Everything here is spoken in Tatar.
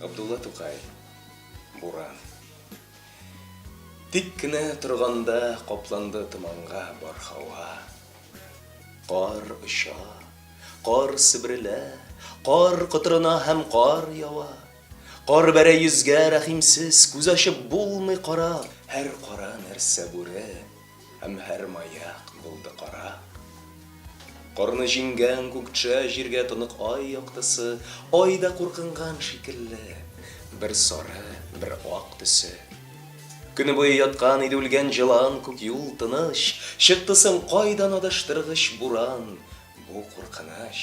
Габдулла Тукай, Буран. Тик кенә торганда капланды томанга бар һава. Кар оча, кар себрелә, кар котырына һәм кар ява. Кар бәрә йөзгә рәхимсез, күз ачып булмый кара, һәр кара нәрсә бүре. Һәм һәр маяк булды кара. Корны җиңгән күкчә җиргә тонык ай яктысы, ай да куркынган шикелле, бер сары, бер ак төсе. Көне буе яткан иде үлгән җылан күк юл тыныч, чыкты соң кайдан адаштыргыч буран, бу куркыныч.